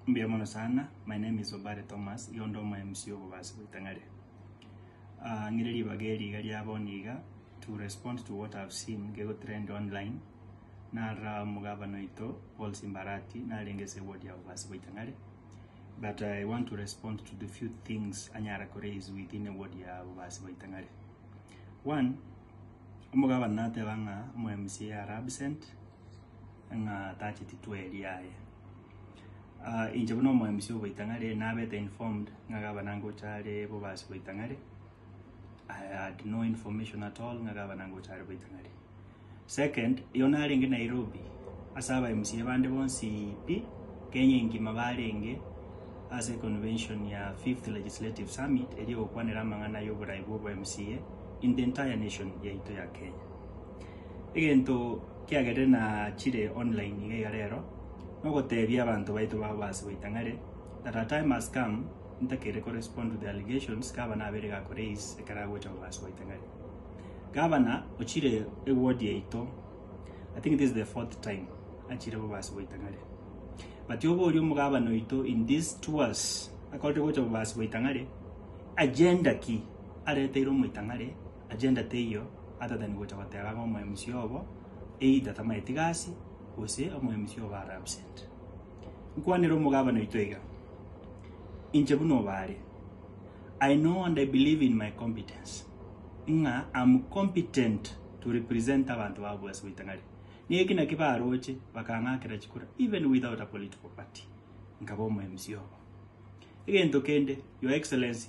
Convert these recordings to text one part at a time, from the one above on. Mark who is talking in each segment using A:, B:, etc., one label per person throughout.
A: Mbuya mono sana, my name is Obare Thomas, iga onde omo MC obobaasi bwa Itang'are. Ah, ng'ire ribaga eri iga ria bono iga, to respond to what I've seen gego trend online, narora omogabana oito Paul Simbarati narenge ase eward ya obobaasi bwa Itang'are, but I want to respond to the few things anyara ko raise within eward ya obobaasi bwa Itang'are. One, omogabana nateba ng'a omo MC are absent, ng'a tacheti tweri aye. Inche buna omoemisi o Boitang'are nabete informed ng'a gavana ngocha are bobasi Boitang'are, I had no information at all ng'a gavana ngocha are Boitang'are. Second, oyio narenge Nairobi ase aba mca bande bonsi pi, Kenya engima barenge ase econvention ya fifth legislative summit eria egokwanera amang'ana ya oborai bwa obo mca in the entire nation yaito ya Kenya. Egento kiagerire nachire online iga iga rero, nogotebia abanto baito babo base goita ng'are that a time has come ntakeire ko respond to the allegations gavana abeire ga ko raise ekero agocha korwa ase goita ng'are. Gavana ochire eward yaito, I think this is the fourth time achire korwa ase goita ng'are. But obe oria omogavana oito in these tours akorire gocha korwa ase goita ng'are, agenda ki areteire omoita ng'are, Agenda teiyo atatani gocha gotera ng'a omoyomisia obo either tamaye tiga ase, gose omoyomisia obo are absent. Nkwanere omogabane oito iga, Inche buna obaare, I know and I believe in my competence, ng'a am competent to represent abanto babo ase ritang'ani. Nigo eki naki baroche bakang'akera chikura even without a political party, nkaba omoyomisia obo. Egento kende, Your Excellency,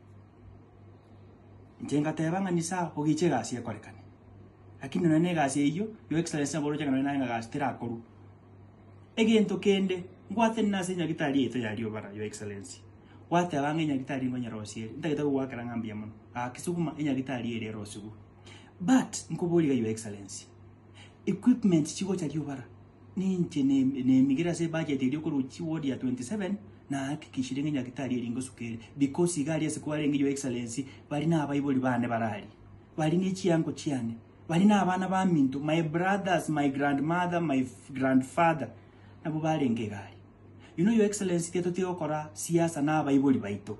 A: Inche ngateba ng'a nise aa ogeche egasi ekorekane. Lakini nonye na egasi eyio your excellency nabo oroche ng'a nonye naye ng'a egasi terakorwa. Egento kende ngwate nase enyagitari yaito ya riobara your excellency, gwateba ng'a enyagitari nkonyerosie ere, ntagete gogoakera ng'a mbuya mono, gaki sukuma enyagitari ere erosigwe. But, nkoborie iga your excellency, equipment chigocha riobara. Ninche nemigire ase ebudget eria okorwa chi ward ya 27 nahakikishire ng'a nyagetari eri ngosuka ere because iga aria ase kwarenge your excellency bari nabaibori bane bararia bari nechiango chiane bari nabana baminto my brothers my grand mother my grand father nabo barenge iga aria you know your excellency tiga totira gokora siasa nabaibori baito.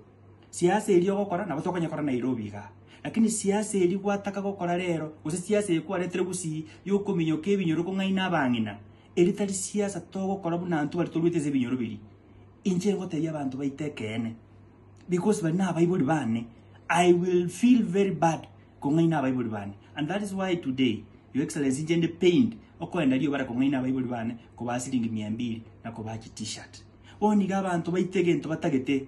A: Siase eria ogokora nabo tokonyekora Nairobi iga, lakini siasa eria gwataka gokora rero, gose siasa eye kwaretire gusii yokominyoka ebinyoro kong'aina abang'ina, eria tari siasa togokora buna abanto baria toruete ase ebinyoro biria. Inche ngotebia abanto baito ekeene, because bari nabaibori bane, I will feel very bad kong'aina abaibori bane, and that is why today, your excellency inche inde pained okoenda riria bare kong'aina abaibori bane kobaa siringi mia mbiri na kobaa chi T-shirt. Bono iga abanto baito egento batagete.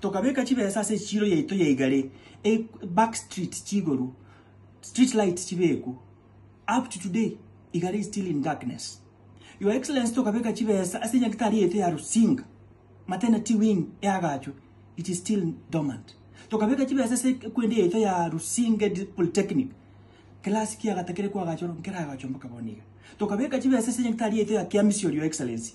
A: Tokabeka chibesa ase echiiro yaito ya igare, e back street chigoru, street lights chibekwe. Up to today igare is still in darkness. Your Excellency tokabeka chibesa ase enyagitari yaito ya Rusinga, maternity wing eagachwe, it is still dormant. Tokabeka chibesa ase ekwende yaito ya Rusinga Polytechnic, class kia gatakere koagachwa oro nkeragachwe mpaka bono iga. Tokabeka chibesa ase enyagitari yaito ya Kiamisi ore, Your Excellency,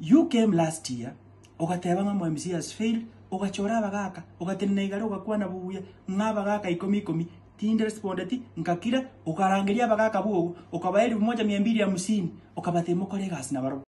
A: You came last year ogateba ng'a omwMCA has failed, ogachora abagaka, ogatenena igare ogakwana buya ng'a abagaka ikomi ikomi tinde respondeti, ngakira, okarangeria abagaka bwogo, okabae elfu moja mia mbili hamsini, okabate mokore egasi nabarobwo.